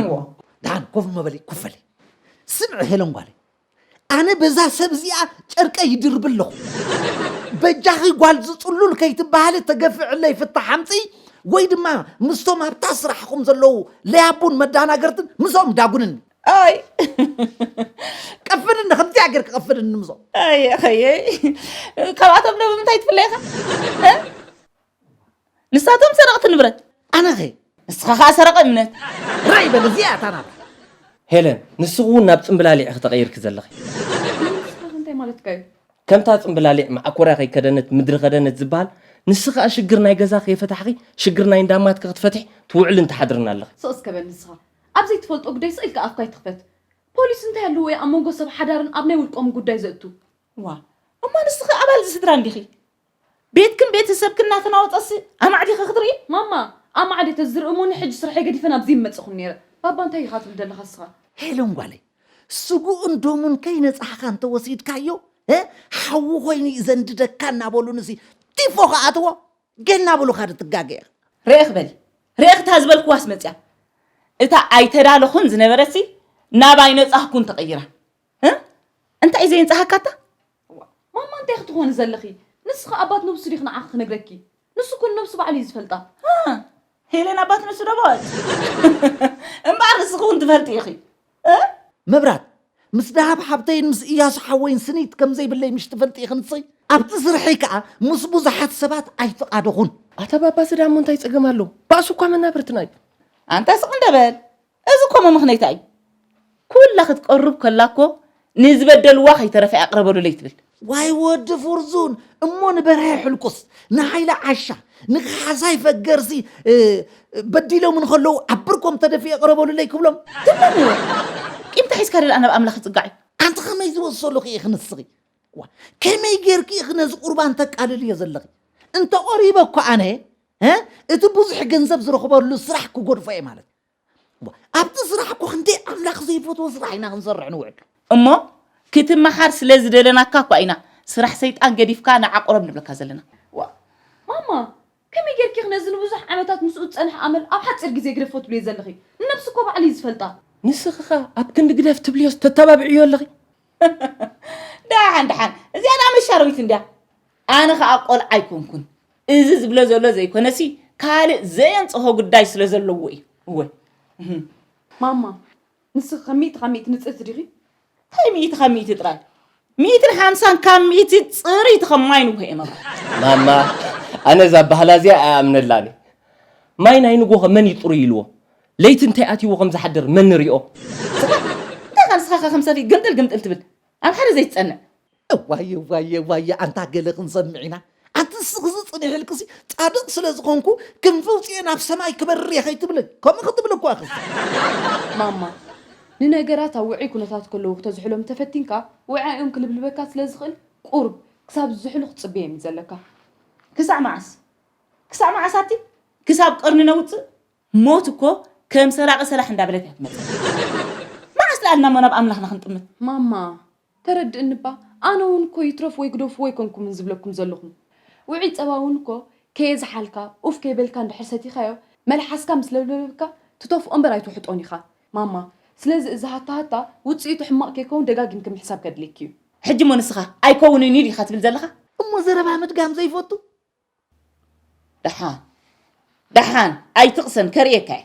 እዎ ደሓን ኮፍ መበሊ ኮፍ በሊ። ስምዒ ሄለን ጓለይ፣ ኣነ በዛ ሰብ እዚኣ ጨርቀይ ይድርብ ኣለኹ። በጃኺ ጓል ዝጽሉል ከይትበሃሊ ተገፊዕለይ ፍታሕ ኣምጽኢ ወይ ድማ ምስቶም ኣብታ ስራሕኹም ዘለዉ ለያቡን መዳናገርትን ምስኦም ዳጉንኒ። ኣይ ቀፍድኒ ከምዚኣ ጌርክ ቀፍድኒ ምዞም ኣየ ኸየይ ካብኣቶም ዶ ብምንታይ ትፍለይኻ ንሳቶም ሰረቕቲ ንብረት ኣነኸ ንስኻ ከኣ ሰረቐ እምነት ራይ በል እዚኣ እታ ናታ ሄለን ንስኺ እውን ናብ ጽምብላሊዕ ኢኺ ተቐይርኪ ዘለኺ ንስኻኸ እንታይ ማለትካ እዩ ከምታ ጽምብላሊዕ መዓኮርያ ከይከደነት ምድሪ ከደነት ዝበሃል ንስኺ ከኣ ሽግር ናይ ገዛ ከይፈታሕኺ ሽግር ናይ እንዳ ኣማትኪ ክትፈትሒ ትውዕልን ትሓድርን ኣለኺ ስቕ እስከ በል ንስኻ ኣብ ዘይትፈልጦ ጉዳይ ስቕ ኢልካ ኣፍካ ኣይትኽፈት ፖሊስ እንታይ ኣለዎ እዩ ኣብ መንጎ ሰብ ሓዳርን ኣብ ናይ ውልቆምን ጉዳይ ዘእቱ ዋእ እሞ ንስኺ ኣባል'ዚ ስድራ እንዲኺ ቤትክን ቤተሰብክን እናተናወጸሲ ኣማዕ ዲኺ ክትርኢ? ማማ ኣማዕ ድየ ተዝርኢ እሞ ንሕጂ ስርሐይ ገዲፈ ናብዚ ምመጸኹን ነይረ። ባባ እንታይ ኢኻ ትብል ዘለኻ እስኻ? ሄለን ጓለይ ስግኡን ደሙን ከይነጻሕካ እንተወሲድካዮ ሓዊ ኮይኑ እዩ ዘንድደካ እናበሉ ንሲ ቲፎ ክኣትዎ ገና እናበሉኻ ዶ ትጋገ ኢኻ? ርኢኽ በሊ ርኢኽ እታ ዝበልክዋስ መጺኣ። እታ ኣይተዳለኹን ዝነበረትሲ ናብ ኣይነጻህኩን ተቐይራ። እንታይ እዩ ዘየንጻሃካ እታ? እዋእ ማማ እንታይ ክትኾኒ ዘለኺ ንስኺ ኣባት ነብሱ ዲኺ ንዓኺ ክነግረኪ ንሱ እኮ ንነብሱ ባዕሉ እዩ ዝፈልጣ ሄለን ኣባት ነብሱ ዶ በለት እምበኣር ንስኺ እውን ትፈልጢ ኢኺ መብራት ምስ ደሃብ ሓብተይን ምስ እያሱ ሓወይን ስኒት ከም ዘይብለይ ምሽ ትፈልጢ ኢኺ ንስኺ ኣብቲ ስርሐይ ከዓ ምስ ብዙሓት ሰባት ኣይፍቓደኹን ኣታ ባባ ዝዳሞ እንታይ ፀገም ኣሎ ባእሱ እኳ መናብርትና እዩ ኣንታ ስቕ እንደ በል እዚ ኮሞ ምክነይታ እዩ ኩላ ክትቀሩብ ከላ እኮ ንዝበደልዋ ከይተረፈ እያ ቅረበሉለይ ትብል። ዋይ ወዲ ፉርዙን እሞ ንበርሀ ሕልቁስ ንሃይለ ዓሻ ንካሕሳይ ፈገርሲ በዲሎም እንከለዉ ኣብ ብርኮም ተደፊኤ ቅረበሉለይ ክብሎም ትብሎም ነይረ ቂምታ ሒዝካ ደልኣ ናብ ኣምላኽ ይጽጋዕ እዩ ኣንቲ ከመይ ዝበሰሉ ክኢ ክንስኺ ዋ ከመይ ጌርኪ ኢኺ ነዚ ቁርባን ተቃልልዮ ዘለኺ እንተ ቐሪበ እኮ ኣነ እቲ ብዙሕ ገንዘብ ዝረኽበሉ ስራሕ ክጎድፎ እየ ማለት ኣብቲ ስራሕ እኮ ክንደይ ኣምላኽ ዘይፈትዎ ስራሕ ኢና ክንሰርሕ ንውዕል እሞ ክትመሃር ስለ ዝደለናካ እኳ ኢና ስራሕ ሰይጣን ገዲፍካ ንዓ ቁረብ ንብለካ ዘለና። ዋእ ማማ ከመይ ጌርኪ ነዚ ንብዙሕ ዓመታት ምስኡ ዝጸንሐ ኣመል ኣብ ሓጺር ግዜ ግደፎ ትብልዮ ዘለኺ ንነብሱ እኮ ባዕሉ እዩ ዝፈልጣ። ንስኺ ከ ኣብ ክንዲ ግደፍ ትብልዮስ ተተባብዕዮ ኣለኺ። ደሓን ደሓን እዚኣ ደኣ መሻረዊት እንድያ። ኣነ ከኣ ቆልዓ ኣይኮንኩን እዚ ዝብሎ ዘሎ ዘይኮነሲ ካልእ ዘየንጽሆ ጉዳይ ስለ ዘለዎ እዩ እወ ማማ ንስኺ ከም ሚእቲ ካብ ሚእቲ ንጽህቲ ዲኺ እንታይ ሚእቲ ካብ ሚእቲ ጥራይ ሚእትን ሓምሳን ካብ ሚእቲ ጽርይቲ ከም ማይ ንጉሆ እየ መብራ ማማ ኣነ እዛ ባህላ እዚኣ ኣይኣምነላን እዩ ማይ ናይ ንጉሆ መን እዩ ጥሩይ ኢልዎ ለይቲ እንታይ ኣትይዎ ከም ዝሓድር መን ንሪኦ እንታይ ከ ንስኻ ከ ከም ሰፍኢ ግምጥል ግምጥል ትብል ኣብ ሓደ ዘይትጸንዕ እዋይ እዋይ እዋይ ኣንታ ገለ ክንሰምዕ ኢና ኣንቲ ንስኺ ዝጽኒሕልክሲ ጻድቕ ስለ ዝኾንኩ ክንፊ ኣውጺኤ ናብ ሰማይ ክበርር እየ ከይትብልን ከምኡ ክትብል እኮ ኢኺ ማማ ንነገራት ኣብ ውዑይ ኩነታት ከለዉ ክተዝሕሎም እንተፈቲንካ ውዕኣኦም ክልብልበካ ስለ ዝኽእል ቁሩብ ክሳብ ዝዝሕሉ ክትጽበዮም እዩ ዘለካ። ክሳዕ መዓስ ክሳዕ መዓስ ኣቲ ክሳብ ቀርኒ ነውጽእ ሞት እኮ ከም ሰራቂ ሰላሕ እንዳበለት እያ ትመጽእ መዓስ ደኣ ኢልና እሞ ናብ ኣምላኽና ክንጥምት። ማማ ተረድእኒ እባ ኣነ ውን እኮ ይትረፍ ወይ ግደፍዎ ኣይኮንኩምን ዝብለኩም ዘለኹ። ውዑይ ጸባ ውን እኮ ከየዝሓልካ ኡፍ ከይበልካ እንድሕር ሰቲኻዮ መልሓስካ ምስ ለብለበካ ትተፍኦ እምበር ኣይትውሕጦን ኢኻ ማማ ስለዚ እዚ ሃታሃታ ውጽኢቱ ሕማቕ ከይከውን ደጋጊምኪ ምሕሳብ ከድልየኪ እዩ። ሕጂ እሞ ንስኻ ኣይከውንን እዩ ዲኻ ትብል ዘለኻ? እሞ ዘረባ ምድጋም ዘይፈቱ? ደሓን ደሓን ኣይትቕሰን ከርእየካ እየ።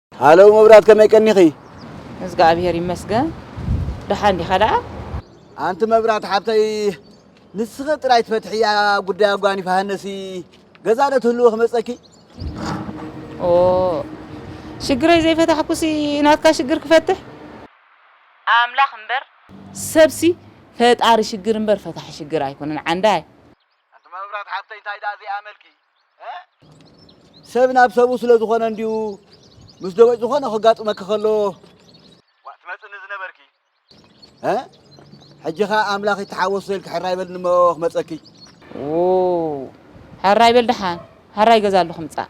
ሃለው መብራት ከመይ ቀኒኺ? እዝግኣብሄር ይመስገን ደሓን ዲኻ ደኣ? ኣንቲ መብራት ሓብተይ ንስኺ ጥራይ ትፈትሕያ ጉዳይ ኣጓኒፍ ሃነሲ ገዛ ዶ ትህልዎ ክመጸኪ? ኦ ሽግረይ ዘይፈታሕኩሲ ናትካ ሽግር ክፈትሕ ኣምላኽ እምበር ሰብሲ ፈጣሪ ሽግር እምበር ፈታሒ ሽግር ኣይኮነን ዓንዳይ። ኣንቲ መብራት ሓብተይ እንታይ ደኣ ዘይኣመልኪ? ሰብ ናብ ሰብኡ ስለ ዝኾነ እንድዩ ምስ ደቦጭ ዝኾነ ከጋጥመኪ ከሎ ዋእ ትመጽኒ ዝነበርኪ እ ሕጂ ኸኣ ኣምላኽ ይተሓወሶ ኢልኪ ሕራይ በልኒ እሞ ክመጸኪ። ዎው ሕራይ በል ደሓን፣ ሕራይ ገዛ ኣሎ ክምጻእ።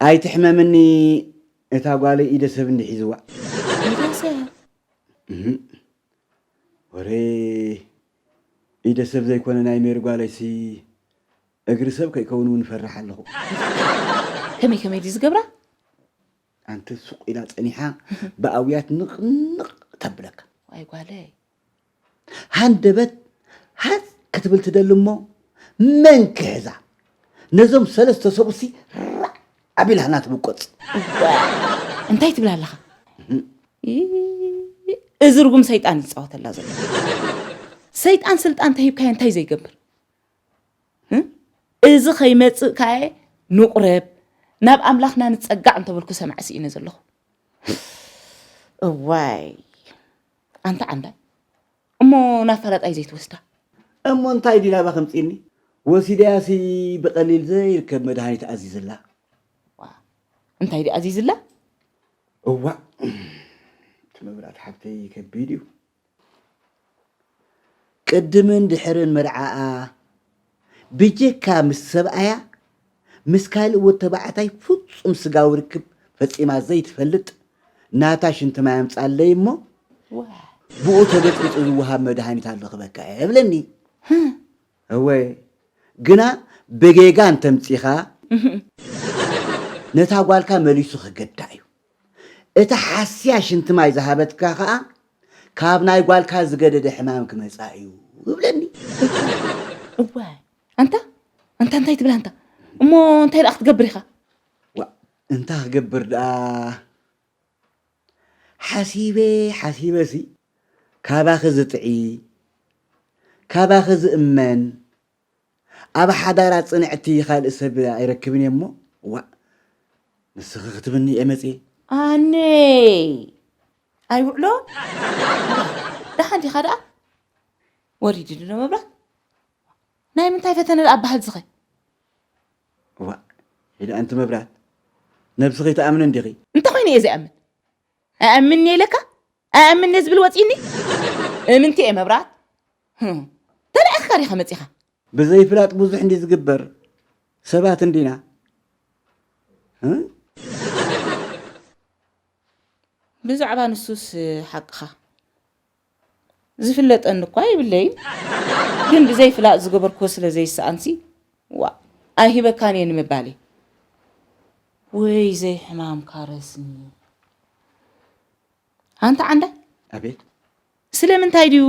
ኣይትሕመምኒ እታ ጓለይ ኢደ ሰብ እንዲ ሒዝዋ። ኢደ ሰብ? እህ ወረ ኢደ ሰብ ዘይኮነ ናይ ሜሪ ጓለይሲ እግሪ ሰብ ከይከውን እውን እፈርሕ ኣለኹ። ከመይ ከመይ ድዩ ዝገብራ? ኣንተ ሱቕ ኢላ ጸኒሓ ብኣውያት ንቕንቕ ተብለካ። ዋይ ጓለይ ሃንደበት ሃጽ ክትብል ትደሊ እሞ መን ክሕዛ ነዞም ሰለስተ ሰብኡሲ ራዕ ኣቢላ ህና ትብቆጽ እዋእ እንታይ ትብል ኣለኻ ይ- እዚ ርጉም ሰይጣን እዩ ዝፃወተላ ዘሎ ሰይጣን ስልጣን ተሂብካዮ እንታይ ዘይገብር እ? እዚ ከይመፅእ ካየ ንቑረብ ናብ ኣምላኽና ንፀጋዕ እንተበልኩ ሰማዕ ስኢነ ዘለኹ እዋይ ኣንታ ዓንዳይ እሞ ናፋላጣይ ዘይትወስዳ። እሞ እንታይ ድዩ ናባኺ ኣምጺእኒ? ወሲደያሲ ብቐሊል ዘይርከብ መድሃኒት ኣዚዝላ። ዋእ እንታይ ድዩ ኣዚዝላ? እዋእ እቲ መብራት ሓብተይ ከቢድ እዩ። ቅድምን ድሕርን መርዓኣ፣ ብጀካ ምስ ሰብኣያ ምስ ካልእ ወድ ተባዕታይ ፍጹም ስጋዊ ርክብ ፈጺማ ዘይትፈልጥ ናታ ሽንቲ ማይ ኣምጻለይ እሞ ብኡ ተበጽቢጹ ዝወሃብ መድሃኒት ኣሎ ክበካ እየ እብለኒ። እወ ግና ብጌጋ እንተምጺኻ ነታ ጓልካ መሊሱ ከገድዳ እዩ። እታ ሓስያ ሽንቲ ማይ ዝሃበትካ ከኣ ካብ ናይ ጓልካ ዝገደደ ሕማም ክመጻ እዩ እብለኒ። እዋይ ኣንታ ኣንታ እንታይ ትብል ኣንታ እሞ እንታይ ደኣ ክትገብር ኢኻ? ዋእ እንታይ ክገብር ደኣ ሓሲበ ሓሲበሲ ካባኺ ዝጥዒ ካባኺ ዝእመን ኣብ ሓዳራ ጽንዕቲ ካልእ ሰብ ኣይረክብን እየ እሞ ዋእ ንስኺ ክትብኒ እየ መጽየ። ኣነይ ኣይውዕሎ ደሓን ዲኻ ደኣ ወሪዲ ድሎ መብራት ናይ ምንታይ ፈተነ ደኣ ባህልዝኸ። እዋእ ሒደ ኣንቲ መብራት ነብስኺ ትኣምኒ እንዲኺ። እንተኾይነ እየ ዝኣምን ኣይኣምንን እየ ኢለካ ኣይኣምን'የ ዝብል ወጺኡኒ እምንቲ'የ መብራት ተላኢኽካ ዲኻ መጺኻ። ብዘይፍላጥ ብዙሕ እንዲዩ ዝግበር ሰባት እንዲና። ብዛዕባ ንሱስ ሓቅኻ ዝፍለጠኒ እኳ የብለይን ግን ብዘይፍላጥ ዝገበርክዎ ስለ ዘይሰኣንሲ ዋእ ኣይህበካን እየ ንምባል እየ። ወይ ዘይሕማምካ ረስኒ። ኣንታ ዓንዳይ ኣቤት ስለምንታይ ድዩ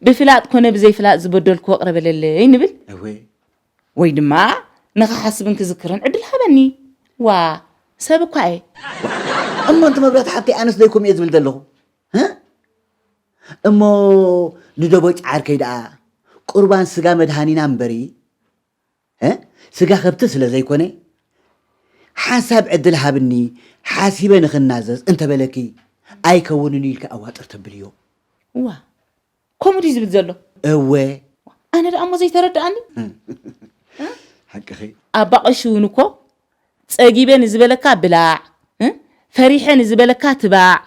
ብፍላጥ ኮነ ብዘይፍላጥ ዝበደልክዎ ቅረ በለለይ ንብል እወ ወይ ድማ ንኽሓስብን ክዝክርን ዕድል ሃበኒ ዋ ሰብ እኳ እየ እሞ እንቲ መብራት ሓብተይ ኣነስ ዘይኮም እየ ዝብል ዘለኹ እ? እሞ ንደቦጭ ዓርከይ ደኣ ቁርባን ስጋ መድሃኒና እምበሪ ስጋ ከብቲ ስለ ዘይኮነ ሓንሳብ ዕድል ሃብኒ ሓሲበ ንኽናዘዝ እንተበለኪ ኣይከውንን ኢልኪ ኣዋጥር ተብልዮ እዋ ከምኡ ድዩ ዝብል ዘሎ እወ ኣነ ደኣ እሞ ዘይተረድኣኒ ሓቅኺ ኣባ ቀሺ እውን እኮ ጸጊበ ንዝበለካ ብላዕ ፈሪሐ ንዝበለካ ትባዕ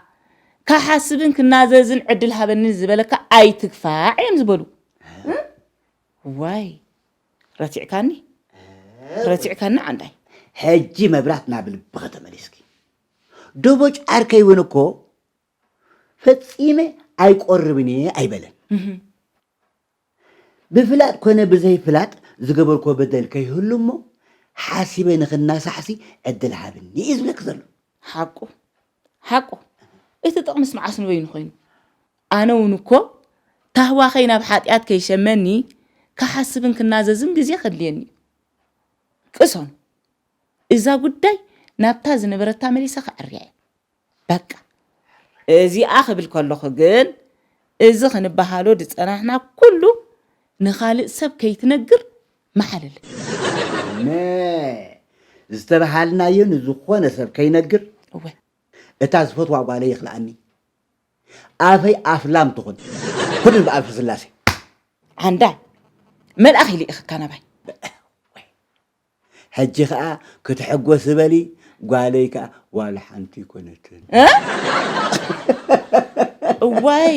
ካሓስብን ክናዘዝን ዕድል ሃበኒ ዝበለካ ኣይትግፋዕ እዮም ዝበሉ ዋይ ረቲዕካኒ ረቲዕካኒ ዓንዳይ ሕጂ መብራት ናብ ልብኺ ተመሊስኪ ደቦጭ ዓርከይ እውን እኮ ፈፂመ ኣይቆርብን እየ ኣይበለን ብፍላጥ ኮነ ብዘይፍላጥ ዝገበርኮ በደል ከይህሉ እሞ ሓሲበ ንክናሳሕሲ ዕድል ሃብኒ እዩ ዝብለክ ዘሎ ሓቁ ሓቁ እቲ ጥቕምስ መዓስ ንበይኑ ኮይኑ ኣነውን እኮ ታህዋኸይ ናብ ሓጢኣት ከይሸመኒ ክሓስብን ክናዘዝን ግዜ ከድልየኒ እዩ። ቅሶን እዛ ጉዳይ ናብታ ዝነበረታ መሊሰ ከዐርያ እየ። በቃ። እዚኣ ክብል ከለኹ ግን እዚ ክንበሃሎ ዝጸናሕና ኩሉ ንኻልእ ሰብ ከይትነግር መሓለለ። እነ ዝተበሃልናዮ ንዝኾነ ሰብ ከይነግር? እወ። እታ ዝፈትዋ ጓለይ የኽልኣኒ። ኣፈይ ኣፍ ላም ትኹን ኩንን ብኣልፊ ስላሴ ዓንዳ መልኣኽ ይልኢኽካ ናባይ ሕጂ ከዓ ክትሕጎስ በሊ ጓለይ ከዓ ዋላ ሓንቲ ኣይኮነትን እ? እዋይ